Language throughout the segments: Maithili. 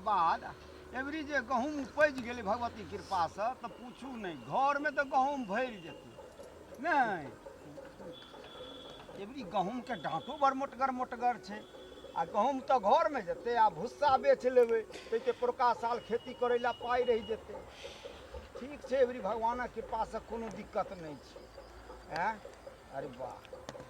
बाद एवरी जे गहूँम उपजि गेलै भगवती कृपासँ तऽ पूछू नहि घरमे तऽ गहूँम भरि जेतै नहि एवरी गहूँमके डाँटो बड़ मोटगर मोटगर छै आ गहूँम तऽ घरमे जेतै आ भुस्सा बेच लेबै ताहिके पोरका साल खेती करै लए पाइ रहि जेतै ठीक छै एवरी भगवानक कृपासँ कोनो दिक्कत नहि छै आँय अरे वाह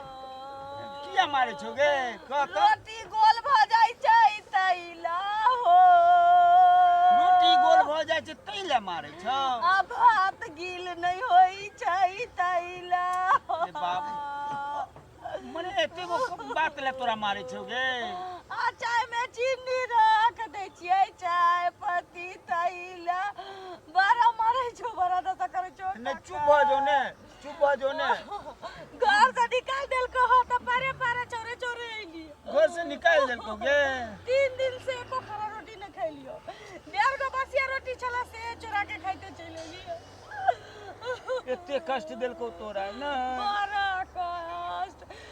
किया मारे छो गे कह तो रोटी गोल भ जाइ छै तैला हो रोटी गोल भ जाइ छै तै ले मारे छो आ भात गील नै होइ छै तैला हो ए बाप। मने एते गो बात ले तोरा मारे छो गे आ चाय में चीनी रख दै छियै चाय पत्ती तैला बड़ा मारै छो बड़ा दशा करै छो नै चुप भ जो ने चुप हो जो ने घर से निकाल देल को हो तो परे परे चोरे चोरे आइली घर से निकाल देल को गे तीन दिन से एको खरा रोटी न खैलियो डेढ़ गो बसिया रोटी छला से चोरा के खाइते चल एलियो एते कष्ट देल को तोरा ना बड़ा कष्ट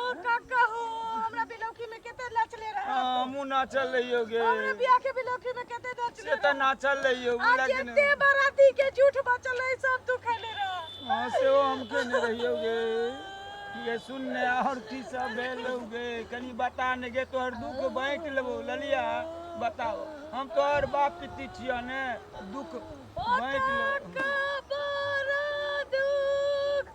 ओ काका हो हमरा बिलौकी में केते नाचले रहे हमू ना चल रही होगे हमरा बियाह के बिलौकी में केते नाचले से तो ना चल रही होगी आज लेकिन एते बराती के झूठ बचल है सब तू खैले रह हाँ से वो हमके नहीं रही होगे ये सुन ने और की सब भेल होगे कनी बता ने गे तोहर दुख बांट लेबो ललिया बताओ हम तोहर बाप पिती छिया ने दुख बांट लेबो का बड़ा दुख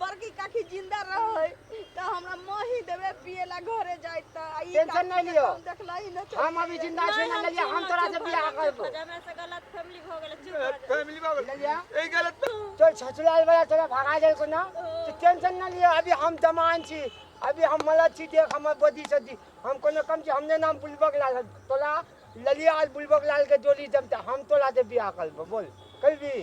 बड़की काकी जिंदा रहै त हमरा मही देबे पिए ला घरे जाय त आ ई टेंशन काकी के नहीं लियो। हम देखलही न त हम अभी जिंदा छी ना लेलिया हम तोरा से बियाह करबो हमरा से गलत फैमिली भ गेल चुप रह फैमिली बाबू लेलिया ए गलत तो छछुलाल वाला तोरा भगा जाए को ना तो टेंशन ना लियो अभी हम जमान छी अभी हम मलद छी देख हमर बदी सदी हम कोनो कम छी हमने नाम बुलबक लाल तोला ललिया आज बुलबक लाल के जोड़ी जमता हम तो लाते बियाह कर लेबो बोल कर भी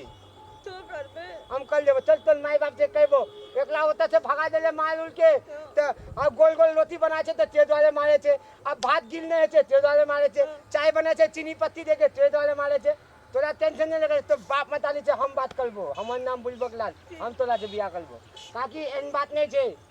तो कर बे हम कर लेबो चल तोर माई बाप से कहबो एकला होता से भगा देले मार उड़ के त अब गोल गोल रोटी बना छे त तेज वाले मारे छे अब भात गिल नहीं छे तेज वाले मारे छे चाय बना छे चीनी पत्ती दे के तेज वाले मारे छे तोरा टेंशन नहीं लगे तो बाप मताली से हम बात करबो हमर नाम बुलबक लाल हम तोरा से बियाह करबो काकी एन बात नहीं छे